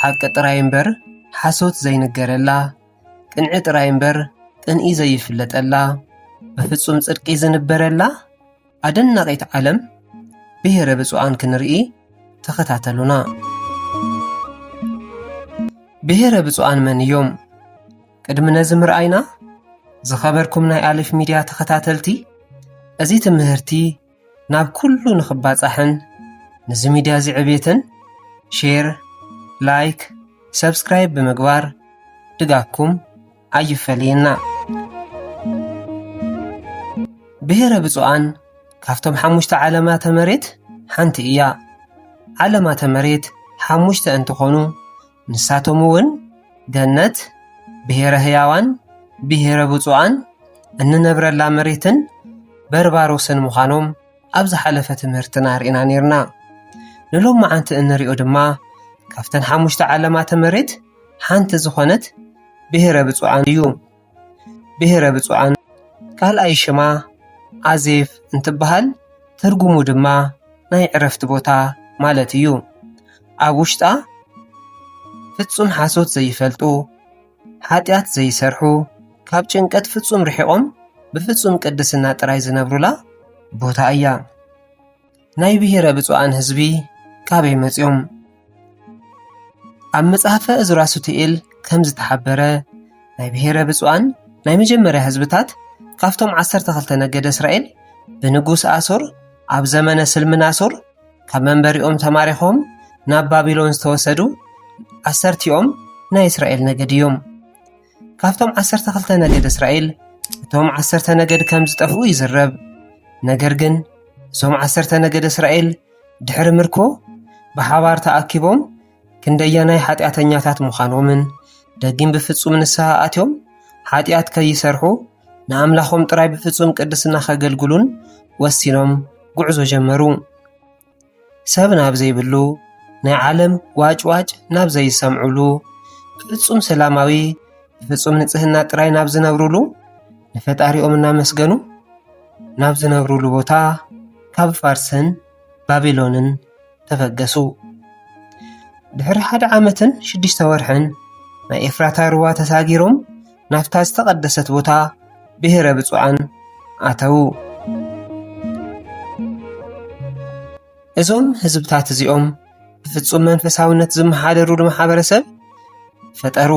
ሓቂ ጥራይ እምበር ሓሶት ዘይንገረላ፣ ቅንዒ ጥራይ እምበር ቅንኢ ዘይፍለጠላ፣ ብፍጹም ጽድቂ ዝንበረላ ኣደናቒት ዓለም ብሄረ ብፁዓን ክንርኢ ተኸታተሉና። ብሄረ ብፁዓን መን እዮም? ቅድሚ ነዚ ምርኣይና ዝኸበርኩም ናይ ኣሌፍ ሚድያ ተኸታተልቲ እዚ ትምህርቲ ናብ ኩሉ ንኽባጻሕን ነዚ ሚድያ እዚ ዕብየትን ሼር ላይክ ሰብስክራይብ ብምግባር ድጋፍኩም ኣይፈለየና ብሔረ ብፁዓን ካብቶም ሓሙሽተ ዓለማተ መሬት ሓንቲ እያ ዓለማተ መሬት ሓሙሽተ እንትኾኑ ንሳቶም እውን ገነት፣ ብሔረ ህያዋን፣ ብሔረ ብፁዓን፣ እንነብረላ መሬትን በርባሮስን ምዃኖም ኣብ ዝሓለፈ ትምህርትና ርኢና ነርና። ንሎም መዓንቲ እንሪኦ ድማ ካብተን ሓሙሽተ ዓለማተ መሬት ሓንቲ ዝኾነት ብሔረ ብፁዓን እዩ። ብሄረ ብፁዓን ካልኣይ ሽማ ኣዜብ እንትበሃል ትርጉሙ ድማ ናይ ዕረፍቲ ቦታ ማለት እዩ። ኣብ ውሽጣ ፍፁም ሓሶት ዘይፈልጡ፣ ሓጢኣት ዘይሰርሑ፣ ካብ ጭንቀት ፍፁም ርሒቖም ብፍፁም ቅድስና ጥራይ ዝነብሩላ ቦታ እያ። ናይ ብሄረ ብፁዓን ህዝቢ ካበይ መፂኦም? ኣብ መፅሓፈ እዝራ ሱቱኤል ከም ዝተሓበረ ናይ ብሄረ ብፁዓን ናይ መጀመርያ ህዝብታት ካብቶም ዓሰርተ ክልተ ነገደ እስራኤል ብንጉስ ኣሶር ኣብ ዘመነ ስልምናሶር ካብ መንበሪኦም ተማሪኾም ናብ ባቢሎን ዝተወሰዱ ዓሰርቲኦም ናይ እስራኤል ነገድ እዮም። ካብቶም ዓሰርተ ክልተ ነገድ እስራኤል እቶም ዓሰርተ ነገድ ከም ዝጠፍኡ ይዝረብ ነገር ግን እዞም ዓሰርተ ነገድ እስራኤል ድሕሪ ምርኮ ብሓባር ተኣኪቦም ክንደያናይ ሓጢኣተኛታት ምዃኖምን ደጊም ብፍጹም ንስሓ ኣትዮም ሓጢኣት ከይሰርሑ ንኣምላኾም ጥራይ ብፍጹም ቅድስና ከገልግሉን ወሲኖም ጉዕዞ ጀመሩ ሰብ ናብ ዘይብሉ ናይ ዓለም ዋጭዋጭ ናብ ዘይሰምዕሉ ፍፁም ሰላማዊ ፍፁም ንፅህና ጥራይ ናብ ዝነብርሉ ንፈጣሪኦም እናመስገኑ ናብ ዝነብርሉ ቦታ ካብ ፋርስን ባቢሎንን ተበገሱ ድሕሪ ሓደ ዓመትን ሽዱሽተ ወርሕን ናይ ኤፍራታ ሩባ ተሳጊሮም ናብታ ዝተቐደሰት ቦታ ብሔረ ብፁዓን ኣተዉ። እዞም ህዝብታት እዚኦም ብፍጹም መንፈሳውነት ዝመሓደሩሉ ማሕበረሰብ ፈጠሩ።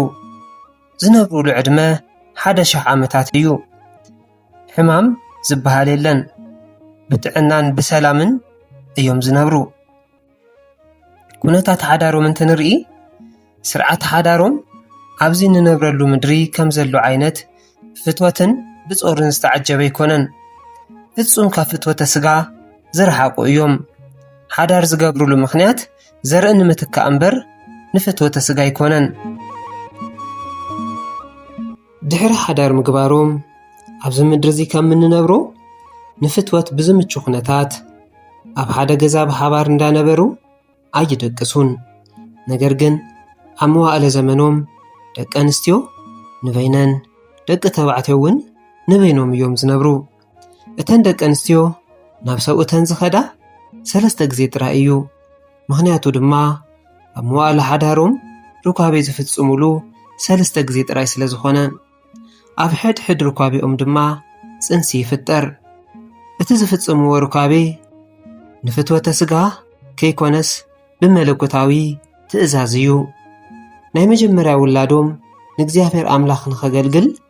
ዝነብሩሉ ዕድመ ሓደ ሽሕ ዓመታት እዩ። ሕማም ዝበሃል የለን። ብጥዕናን ብሰላምን እዮም ዝነብሩ። ኩነታት ሓዳሮም እንትንርኢ ስርዓት ሓዳሮም ኣብዚ እንነብረሉ ምድሪ ከም ዘሎ ዓይነት ፍትወትን ብጾርን ዝተዓጀበ ኣይኮነን። ፍጹም ካብ ፍትወተ ስጋ ዝረሓቁ እዮም። ሓዳር ዝገብሩሉ ምኽንያት ዘርኢ ንምትካእ እምበር ንፍትወተ ስጋ ኣይኮነን። ድሕሪ ሓዳር ምግባሮም ኣብዚ ምድሪ እዚ ከም እንነብሮ ንፍትወት ብዝምቹ ኩነታት ኣብ ሓደ ገዛ ብሓባር እንዳነበሩ ኣይደቅሱን። ነገር ግን ኣብ መዋእለ ዘመኖም ደቂ ኣንስትዮ ንበይነን ደቂ ተባዕትዮ እውን ንበይኖም እዮም ዝነብሩ። እተን ደቂ ኣንስትዮ ናብ ሰብኡተን ዝኸዳ ሰለስተ ግዜ ጥራይ እዩ ምኽንያቱ ድማ ኣብ መዋእለ ሓዳሮም ርኳቤ ዝፍጽሙሉ ሰለስተ ግዜ ጥራይ ስለ ዝኾነ ኣብ ሕድ ሕድ ርኳቤኦም ድማ ጽንሲ ይፍጠር እቲ ዝፍጽምዎ ርኳቤ ንፍትወተ ስጋ ከይኮነስ ብመለኮታዊ ትእዛዝ እዩ ናይ መጀመርያ ውላዶም ንእግዚኣብሔር ኣምላኽ ንኸገልግል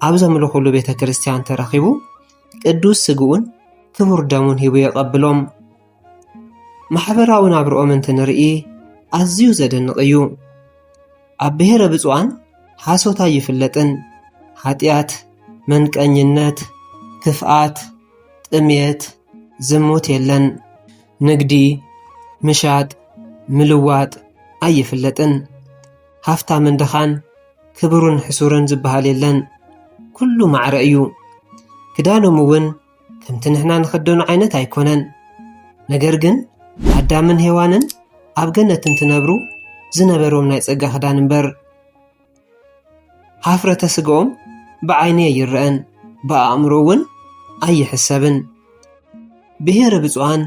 ኣብ ዘምልኹሉ ቤተ ክርስቲያን ተረኺቡ ቅዱስ ስግኡን ክቡር ደሙን ሂቡ የቐብሎም። ማሕበራዊ ናብርኦም እንትንርኢ ኣዝዩ ዘደንቕ እዩ። ኣብ ብሔረ ብፁዓን ሓሶት ኣይፍለጥን። ሓጢኣት፣ መንቀኝነት፣ ክፍኣት፣ ጥሜት፣ ዝሙት የለን። ንግዲ፣ ምሻጥ፣ ምልዋጥ ኣይፍለጥን። ሃፍታምን ድኻን ክብሩን ሕሱርን ዝበሃል የለን ኩሉ ማዕረ እዩ ክዳኖም እውን ከምቲ ንሕና ንኽደኖ ዓይነት ኣይኮነን ነገር ግን ኣዳምን ሄዋንን ኣብ ገነት እንትነብሩ ዝነበሮም ናይ ጸጋ ክዳን እምበር ሃፍረተ ስግኦም ብዓይኒ ኣይረአን ብኣእምሮ እውን ኣይሕሰብን ብሔረ ብፁዓን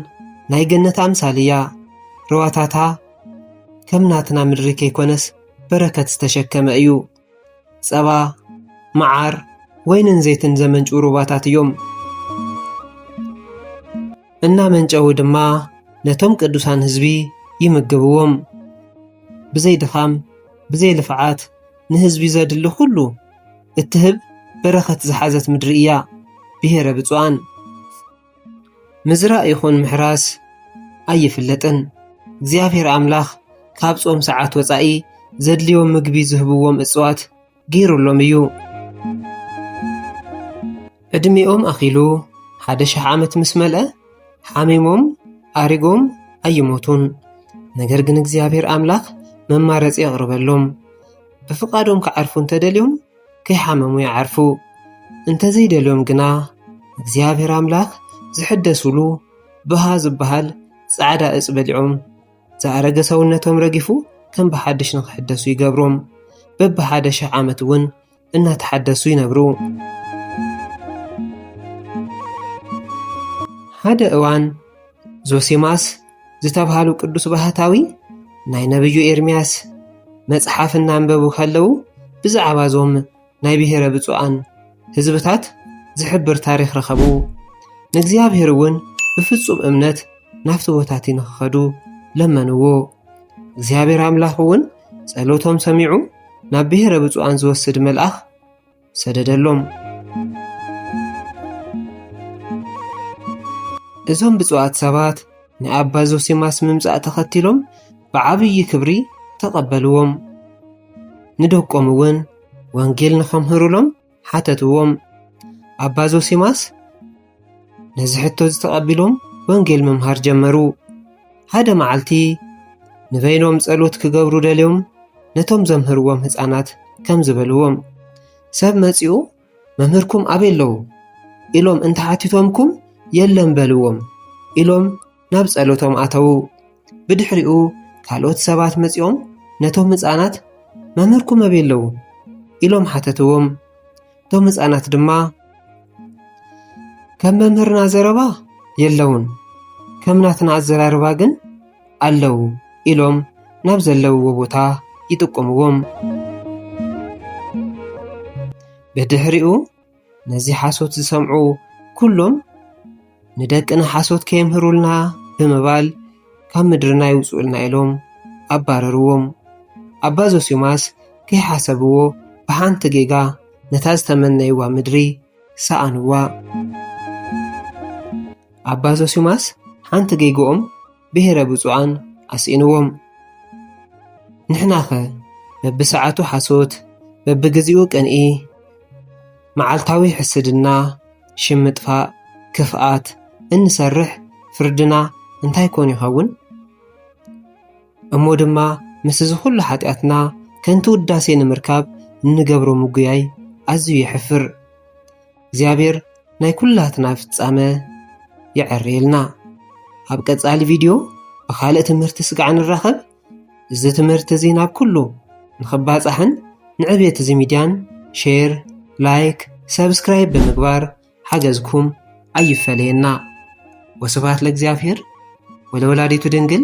ናይ ገነት ኣምሳል እያ ርዋታታ ከም ናትና ምድሪ ከይኮነስ በረከት ዝተሸከመ እዩ። ጸባ፣ መዓር፣ ወይንን ዘይትን ዘመንጩ ሩባታት እዮም። እናመንጨዉ ድማ ነቶም ቅዱሳን ህዝቢ ይምግብዎም። ብዘይ ድኻም ብዘይ ልፍዓት ንህዝቢ ዘድሊ ኩሉ እትህብ በረኸት ዝሓዘት ምድሪ እያ ብሄረ ብፁዓን። ምዝራእ ይኹን ምሕራስ ኣይፍለጥን። እግዚኣብሔር ኣምላኽ ካብ ጾም ሰዓት ወጻኢ ዘድልዮም ምግቢ ዝህብዎም እጽዋት ገይሩሎም እዩ። ዕድሜኦም ኣኺሉ ሓደ ሽሕ ዓመት ምስ መልአ ሓሚሞም ኣሪጎም ኣይሞቱን። ነገር ግን እግዚኣብሔር ኣምላኽ መማረፂ የቕርበሎም። ብፍቓዶም ክዓርፉ እንተደልዮም ከይሓመሙ ይዓርፉ። እንተዘይደልዮም ግና እግዚኣብሔር ኣምላክ ዝሕደሱሉ ብሃ ዝበሃል ፃዕዳ እፅ በሊዖም ዝኣረገ ሰውነቶም ረጊፉ ከም ብሓድሽ ንክሕደሱ ይገብሮም። በቢ ሓደ ሽሕ ዓመት እውን እናተሓደሱ ይነብሩ። ሓደ እዋን ዞሲማስ ዝተብሃሉ ቅዱስ ባህታዊ ናይ ነብዩ ኤርምያስ መጽሓፍ እናንበቡ ከለዉ ብዛዕባ እዞም ናይ ብሔረ ብፁዓን ህዝብታት ዝሕብር ታሪኽ ረኸቡ ንእግዚኣብሔር እውን ብፍጹም እምነት ናብቲ ቦታቲ ንክኸዱ ለመንዎ እግዚኣብሔር ኣምላኽ እውን ጸሎቶም ሰሚዑ ናብ ብሔረ ብፁዓን ዝወስድ መልኣኽ ሰደደሎም። እዞም ብፁዓት ሰባት ንኣባ ዞሲማስ ምምጻእ ተኸቲሎም ብዓብዪ ክብሪ ተቐበልዎም። ንደቆም እውን ወንጌል ንኸምህሩሎም ሓተትዎም። ኣባ ዞሲማስ ነዚ ሕቶ እዚ ተቐቢሎም ወንጌል ምምሃር ጀመሩ ሓደ መዓልቲ ንበይኖም ጸሎት ክገብሩ ደልዮም ነቶም ዘምህርዎም ህፃናት ከም ዝበልዎም ሰብ መጺኡ መምህርኩም ኣበይ ኣለዉ ኢሎም እንተሓቲቶምኩም የለን በልዎም ኢሎም ናብ ጸሎቶም ኣተዉ። ብድሕሪኡ ካልኦት ሰባት መጺኦም ነቶም ህፃናት መምህርኩም ኣበይ ኣለዉ ኢሎም ሓተትዎም። እቶም ህፃናት ድማ ከም መምህርና ዘረባ የለውን፣ ከም ናትና ኣዘራርባ ግን ኣለዉ ኢሎም ናብ ዘለውዎ ቦታ ይጥቁምዎም። ብድሕሪኡ ነዚ ሓሶት ዝሰምዑ ኩሎም ንደቅና ሓሶት ከየምህሩልና ብምባል ካብ ምድርና ይውፅኡልና ኢሎም ኣባረርዎም ኣባ ዞሲማስ ከይሓሰብዎ ብሓንቲ ጌጋ ነታ ዝተመነይዋ ምድሪ ሰኣንዋ ኣባ ዞሲማስ ሓንቲ ጌግኦም ብሄረ ብፁዓን ኣስኢንዎም ንሕናኸ በብሰዓቱ ሓሶት በብግዜኡ ቅንኢ መዓልታዊ ሕስድና ሽም ምጥፋእ ክፍኣት እንሰርሕ ፍርድና እንታይ ኮን ይኸውን እሞ ድማ ምስ እዚ ኩሉ ሓጢኣትና ከንቲ ውዳሴ ንምርካብ እንገብሮ ምጉያይ ኣዝዩ የሕፍር እግዚኣብሔር ናይ ኩላትና ፍጻመ የዐርየልና። ኣብ ቀጻሊ ቪድዮ ብኻልእ ትምህርቲ ስጋዕ ንራኸብ። እዚ ትምህርቲ እዚ ናብ ኩሉ ንኽባጻሕን ንዕብየት እዚ ሚድያን ሼር፣ ላይክ፣ ሰብስክራይብ ብምግባር ሓገዝኩም ኣይፈለየና። ወስብሐት ለእግዚኣብሔር ወለወላዲቱ ድንግል